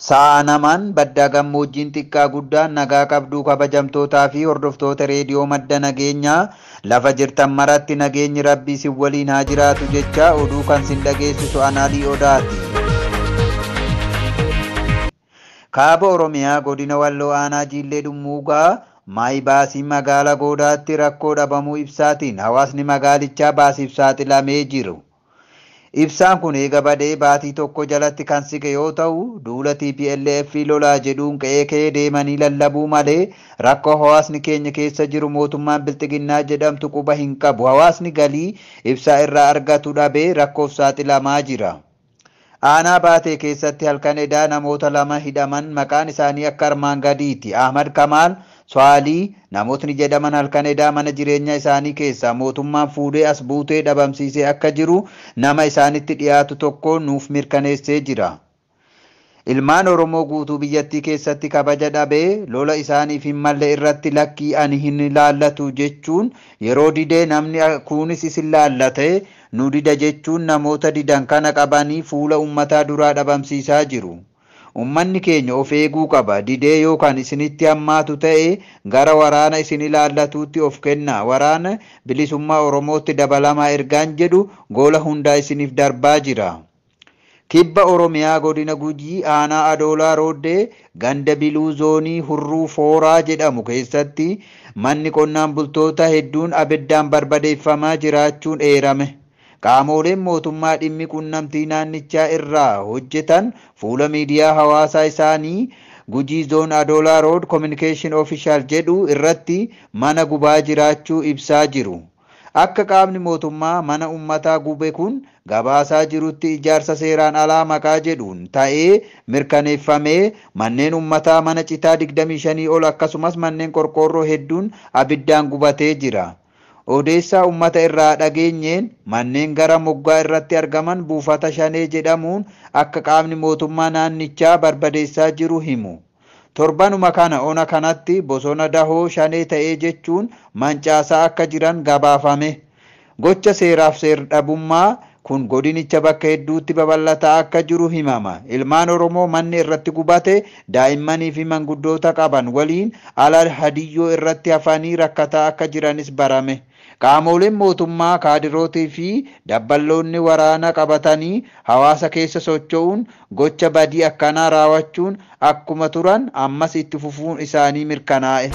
Sa'a namaan baddaa gammoojjiin xiqqaa guddaa nagaa qabduu kabajamtootaa fi hordoftoota reediyoo madda nageenyaa lafa jirtan maratti nageenyi rabbii sin waliin haa jiraatu jechaa oduu kan sin dhageessisu anaalii odaati. Kaaba Oromiyaa Godina Walloo Aanaa Jiillee Dhummuugaa, Maayi Baasii Magaala Goodaatti rakkoo dhabamuu ibsaatiin hawaasni magaalichaa baasiif saaxilamee jiru. Ibsaan kun eega badee baatii tokko jalatti kan siqe yoo ta'u, duula tplf lolaa jedhuun qe'ee qe'ee deemanii lallabuu malee rakkoo hawaasni keenya keessa jiru mootummaan bilxiginnaa jedhamtu quba hin qabu hawaasni galii ibsaa irraa argatu dhabee rakkoof saaxilamaa jira. Aanaa Baatee keessatti halkan edaa namoota lama hidhaman maqaan isaanii akka armaan gadiiti. Ahmad Kamaal, Swaalii, namootni jedhaman halkan edaa mana jireenyaa isaanii keessaa mootummaan fuudhee as buutee dhabamsiisee akka jiru nama isaanitti dhiyaatu tokko nuuf mirkaneessee jira. Ilmaan Oromoo guutuu biyyattii keessatti kabaja dhabe, lola isaaniif hin malle irratti lakkii ani hin ilaallatu jechuun yeroo dide namni kuunis isin laallate nu dida jechuun namoota didan kana qabanii fuula ummataa duraa dhabamsiisaa jiru. Ummanni keenya of eeguu qaba. Didee yoo kan isinitti hammaatu ta'e gara waraana isin ilaallatuutti of kennaa. Waraana Bilisummaa Oromootti dabalamaa ergaan jedhu gola hundaa isiniif darbaa jira. Kibba Oromiyaa Godina Gujii Aanaa Adoolaa Rooddee ganda Biluu Zoonii Hurruu Fooraa jedhamu keessatti manni qonnaan bultoota hedduun abiddaan barbadeeffamaa jiraachuun eerame. Qaamooleen mootummaa dhimmi qunnamtii naannichaa irraa hojjetan fuula miidiyaa hawaasaa isaanii Gujii Zone Adola Road Communication Official jedhu irratti mana gubaa jiraachuu ibsaa jiru. Akka qaamni mootummaa mana ummataa gube kun gabaasaa jirutti ijaarsa seeraan alaa maqaa jedhuun ta'ee mirkaneeffamee manneen ummataa mana citaa 25 ol akkasumas manneen qorqoorroo hedduun abiddaan gubatee jira. Odeessaa ummata irraa dhageenyeen manneen gara moggaa irratti argaman buufata shanee jedhamuun akka qaamni mootummaa naannichaa barbadeessaa jiru himu. Torbanuma kana ona kanatti bosona dahoo shanee ta'ee jechuun mancaasaa akka jiran gabaafame. Gocha seeraaf seer-dhabummaa kun godinicha bakka hedduutti babal'ataa akka jiru himama. Ilmaan Oromoo manni irratti gubate, daa'immanii fi manguddoota qaban waliin ala hadiyyoo irratti hafanii rakkataa akka jiranis barame. Qaamooleen mootummaa, kaadirootii fi dabballoonni waraana qabatanii hawaasa keessa socho'uun gocha badii akkanaa raawachuun akkuma turan ammas itti fufuun isaanii mirkanaa'e.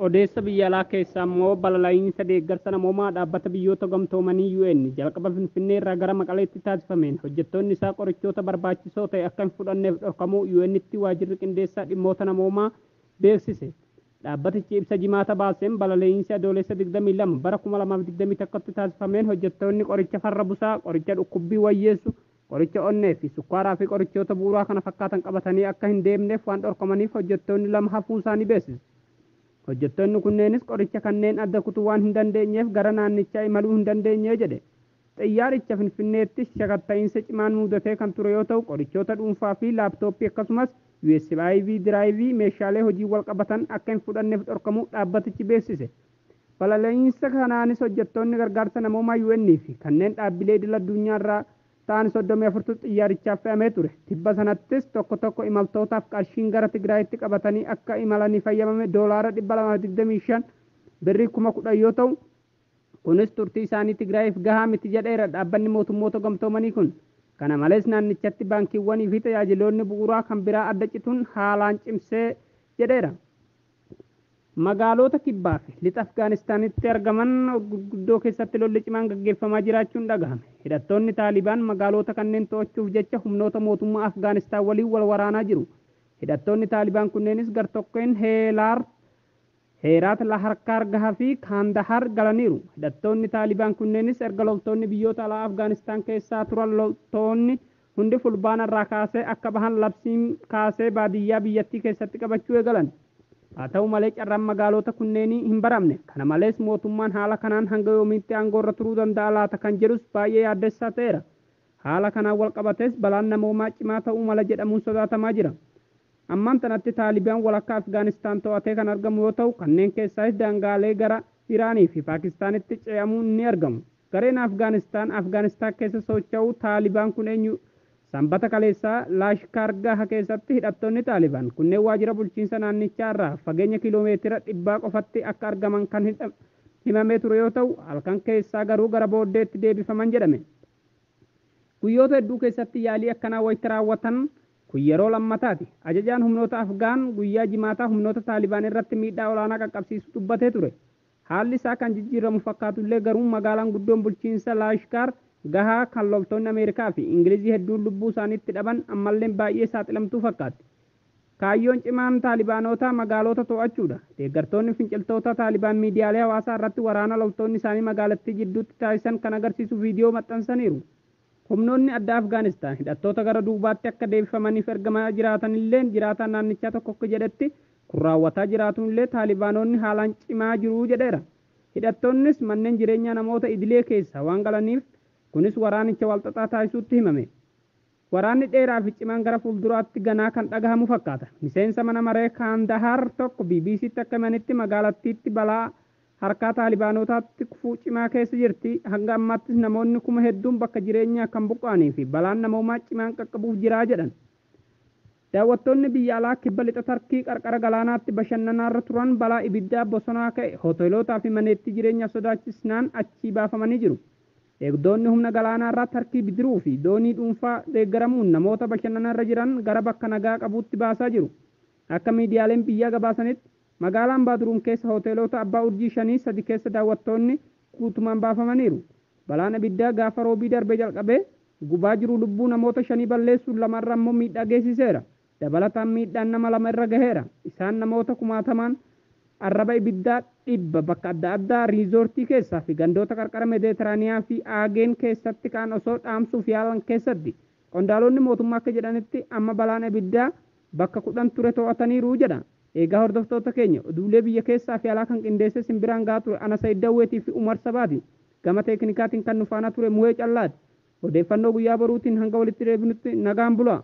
Odeessa biyya alaa keessaa immoo balala'iinsa deeggarsa namoomaa Dhaabbata Biyyoota Gamtoomanii UN jalqaba Finfinnee irraa gara Maqaleetti taasifameen hojjettoonni isaa qorichoota barbaachisoo ta'e akka hin fudhanneef dhorkamuu UN'tti waajirri qindeessaa dhimmoota namoomaa beeksise. Dhaabbatichi ibsa Jimaata baaseen balalee'iinsi Adoolessa 22 bara 2021tti taasifameen hojjettoonni qoricha farra busaa, qoricha dhukkubbii wayyeessu, qoricha onnee fi sukkaaraa fi qorichoota bu'uuraa kana fakkaatan qabatanii akka hin deemneef waan dhorkamaniif hojjettoonni lama hafuusaanii beeksise. Hojjettoonni kunneenis qoricha kanneen adda kutuu waan hin dandeenyeef gara naannichaa imaluu hin dandeenye jedhe. Xiyyaaricha Finfinneetti shakatta'iinsa cimaan muudatee kan ture yoo ta'u, qorichoota dhuunfaa fi laaptooppii akkasumas USBIV diraayivii meeshaalee hojiin walqabatan akka hin fudhanneef dhorkamuu dhaabbatichi beeksise. Balali'iinsa kanaanis hojjettoonni gargaarsa namoomaa UN fi kanneen dhaabbilee idil addunyaarraa ta'an 34tu xiyyaarichaaf fe'amee ture. Tibba sanattis tokko tokko imaltootaaf qarshiin gara Tigraayitti qabatanii akka imalaniif hayyamame doolaara 225, Birrii kuma 10, yoo ta'u, Kunis turtii isaanii Tigraayiif gahaa miti jedheera Dhaabbanni Mootummoota Gamtoomanii kun. Kana malees naannichatti baankiiwwanii fi tajaajiloonni bu'uuraa kan biraa adda cituun haalaan cimsee jedheera. Magaaloota kibbaa fi lixa Afgaanistaanitti argaman gurguddoo keessatti lolli cimaan gaggeeffamaa jiraachuun dhagahame. Hidhattoonni Taalibaan magaaloota kanneen to'achuuf jecha humnoota mootummaa Afgaanistaan waliin wal waraanaa jiru. Hidhattoonni Taalibaan kunneenis gartokkeen Heelaar Heeraat Laharkaar Gaha fi Kaandahaar galaniiru. Hidhattoonni Taalibaan kunneenis erga loltoonni biyyoota alaa Afgaanistaan keessaa turan loltoonni hundi Fulbaana irraa kaasee akka bahan labsiin kaasee baadiyyaa biyyattii keessatti qabachuu eegalan. Haa ta'u malee carraan magaaloota kunneenii hin baramne. Kana malees mootummaan haala kanaan hanga yoomiitti aangoorra turuu danda'a laata kan jedhus baay'ee yaaddessaa ta'eera. Haala kanaan walqabatees balaan namoomaa cimaa ta'uu mala jedhamuun sodaatamaa jira. Ammaan tanatti Taalibaan walakkaa Afgaanistaan to'atee kan argamu yoo ta'u, kanneen keessaayis daangaalee gara Iraanii fi Paakistaanitti ce'amuun ni argamu. Gareen Afgaanistaan Afgaanistaan keessa socho'u Taalibaan kun eenyu? Sanbata kaleessaa Laashkaar Gaha keessatti hidhattoonni Taalibaan kunneen waajjira bulchiinsa naannichaa irraa fageenya kiiloomeetira dhibbaa qofatti akka argaman kan himamee ture yoo ta'u, halkan keessaa garuu gara booddeetti deebifaman jedhame. Guyyoota hedduu keessatti yaalii akkanaa wayita raawwatan kun yeroo lammataati. Ajajaan humnoota Afgaan guyyaa Jimaataa humnoota Taalibaan irratti miidhaa olaanaa qaqqabsiisuu dubbatee ture. Haalli isaa kan jijjiiramu fakkaatullee garuu magaalaan guddoon bulchiinsa Laashkaar Gahaa kan loltoonni Ameerikaa fi Ingilizii hedduun lubbuu isaanii itti dhaban ammalleen baay'ee saaxilamtuu fakkaatti. Kaayyoon cimaan Taalibaanootaa magaaloota to'achuudha. Deeggartoonni finciltoota Taalibaan miidiyaalee hawaasaa irratti waraana loltoonni isaanii magaalattii jidduutti taasisan kan agarsiisu viidiyoo maxxansaniiru. Humnoonni addaa Afgaanistaan hidhattoota gara duubaatti akka deebifamaniif ergamaa jiraatanilleen jiraataan naannichaa tokko akka jedhetti kun raawwataa jiraatuunillee Taalibaanoonni haalaan cimaa jiru jedheera. Hidhattoonnis manneen jireenyaa namoota idilee keessaa waan galaniif kunis waraanicha walxaxaa taasisuutti himame. Waraanni dheeraa fi cimaan gara fuulduraatti ganaa kan dhagahamu fakkaata. Miseensa mana maree Kaandahaar tokko BBCtti akka himanitti magaalattiitti balaa harkaa Taalibaanootaatti kufuu cimaa keessa jirti, hanga ammaattis namoonni kuma hedduun bakka jireenyaa kan buqqa'anii fi balaan namoomaa cimaan qaqqabuuf jira jedhan. Daawwattoonni biyya alaa Kibba Lixa Tarkii qarqara galaanaatti bashannanaarra turan balaa ibiddaa bosonaa ka'e hoteelootaa fi maneettii jireenyaa sodaachisnaan achii baafamanii jiru. Eegdoonni humna galaanaarraa Tarkii bidiruu fi doonii dhuunfaa deeggaramuun namoota bashannanarra jiran gara bakka nagaa qabuutti baasaa jiru. Akka miidiyaaleen biyyaa gabaasanitti, Magaalaa Ambaaduruum keessa hoteeloota abbaa urjii shanii sadi keessa daawwattoonni guutumaan baafamaniiru. Balaan abiddaa gaafa Roobii darbe jalqabee gubaa jiru lubbuu namoota shanii balleessuun lama irra ammoo miidhaa geessiseera. Dabalataan miidhaan nama lama irra gaheera. Isaan namoota kumaatamaan arraba ibiddaa dhibba bakka adda addaa riizoortii keessaa fi gandoota qarqara Medeeteraaniyaa fi Aageen keessatti ka'an osoo dhaamsuuf yaalan keessatti. Qondaalonni mootummaa akka jedhanitti amma balaan abiddaa bakka 10 ture to'ataniiru jedha. Eegaa hordoftoota keenya, oduulee biyya keessaa fi alaa kan qindeessee sin biraan gahaa ture ana Sayid Dawweetii fi Umar Sabaati. Gama teeknikaatiin kan nu faana ture Muhee Callaati. Odeeffannoo guyyaa boruutiin hanga walitti deebinutti nagaan bulaa!